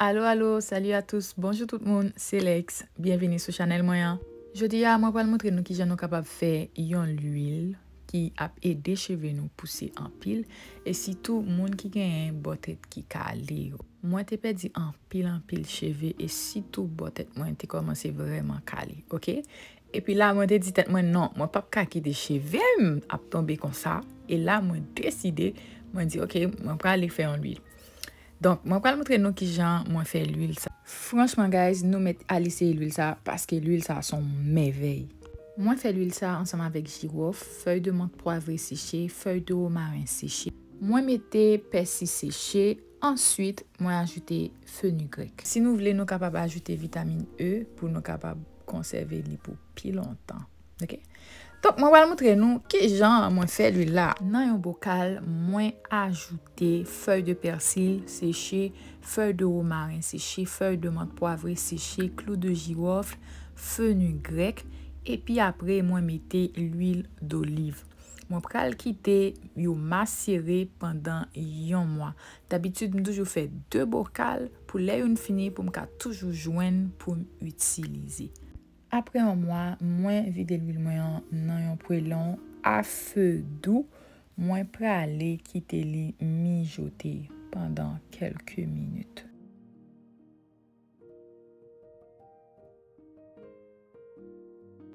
Alo alo salut a tous bonjou tout moun se Lex byenvini sou chanèl mwen an jodi a mwen pral montre nou kijan nou kapab fè yon lwil ki ap ede cheve nou pouse anpil e sitou moun ki genyen bò tèt ki kale yo mwen te pèdi anpil anpil cheve e sitou bò tèt mwen te kòmanse vrèman kale ok epi la mwen te di tèt mwen non mwen pap ka kite chevem ap tonbe konsa e la mwen deside mwen di ok mwen prale fè yon lwil Donk mwen pral moutre nou kijan mwen fè lwil sa. Franchman guys nou mèt al eseye lwil sa paske lwil sa son mèvèy. Mwen fè lwil sa ansanm avèk jirof, fèy de mant pwavre seche, fèy de romaren seche. Mwen mete pèsi seche, answit mwen ajoute fenugrèk. Si nou vle nou kapab ajoute vitamin E pou nou kapab konsève li pou pi lontan. Ok. Donk mwen pral moutre nou ki jan mwen fè lwil la. Nan yon bokal mwen ajoute fèy de pèsil seche, fèy de womaren seche, fèy de mant pwavre seche, klou de jiwòfl, fenugrèk epi apre mwen mete lwil doliv. Mwen pral kite yo masere pandan yon mwa. Dabitid m toujou fè 2 bokal pou lè youn fini pou m ka toujou jwenn pou m itilize. Apre yon mwa, mwen vide lwil mwen an nan yon pwelon a fe dou, mwen prale kite li mijote pandan kelke minit.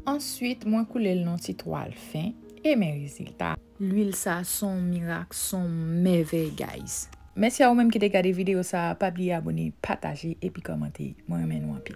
Answit, mwen koule l nan ti twal fen e men rezilta a. Lwil sa son mirak, son mèvèy guys. Mèsi a ou menm ki te gade video sa, pa bliye abone, pataje epi komante. Mwen renmen nou anpil.